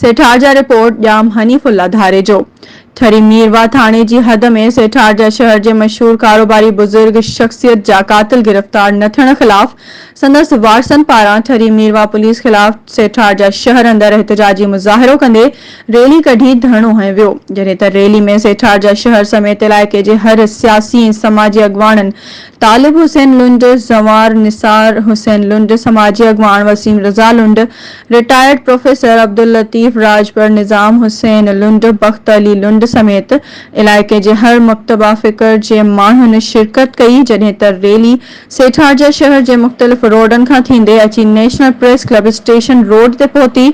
سيٺار جا report Jam Hanifullah Dharejo Thari Mirwah ٿاڻي جي حد ۾ سيٺار جا شهر جي مشهور ڪاروباري بزرگ شخصيت جا قاتل گرفتار نه ٿيڻ خلاف سندس وارثن پاران ٺري مير واھ پوليس خلاف سيٺار جا شهر اندر احتجاجي مظاهرو ڪندي ريلي ڪڍي ڌرڻو هنيو ويو، جڏهن ته ريلي ۾ سيٺار جا شهر سميت علائقي جي هر سياسي ۽ سماجي اڳواڻن، طالب حسين لنڊ، زنوار نثار حسين لنڊ، سماجي اڳواڻ وسيم رضا لنڊ، رٽائرڊ پروفيسر عبداللطيف راڄپر، نظام حسين لنڊ، بخت علي لنڊ سميت علائقي جي هر مڪتبه فڪر جي ماڻهن شرڪت ڪئي، جڏهن ته ريلي سيٺارجا شهر جي مختلف روڊن کان ٿيندي اچي national press club station road تي پهتي،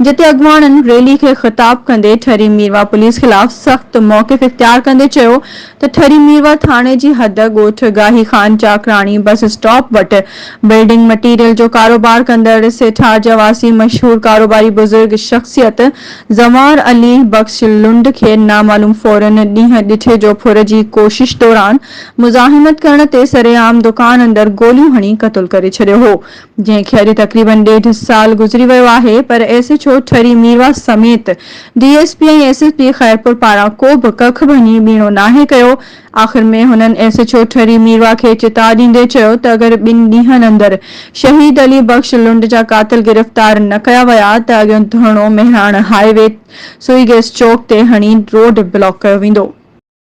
جتي اڳواڻن ريلي کي خطاب ڪندي ٺري ميرواهه پوليس خلاف سخت موقف اختيار ڪندي چيو ته ٺري ميرواهه ٿاڻي جي حد ڳوٺ گاهي خان چاڪراڻي بس اسٽاپ وٽ بلڊنگ مٽيريل جو ڪاروبار ڪندڙ سيٺارجا واسي مشهور ڪاروباري بزرگ شخصيت زنوار علي بخش لنڊ کي نامعلوم ڦورن ڏينهن ڏٺي جو ڦر جي ڪوشش دوران مزاحمت ڪرڻ تي سرعام دڪان اندر گوليون هڻي قتل ڪري ڇڏيو هو جنهن کي اڄ تقريبن ڏيڍ سال گذري ويو آهي پر S H O Thari Mirwah سميت D S P ۽ S S P Khairpur پاران ڪو به ڪک ڀڃي ٻيڻو ناهي ڪيو آخر ۾ هنن S H O Thari Mirwah کي چتاء ڏيندي چيو ته اگر ٻن ڏينهن اندر شهيد علي بخش لنڊ جا قاتل گرفتار نه ڪيا ويا ته اڳيون ڌرڻو Mehran highway Sui gas چوڪ تي هڻي روڊ بلاڪ ڪيو ويندو.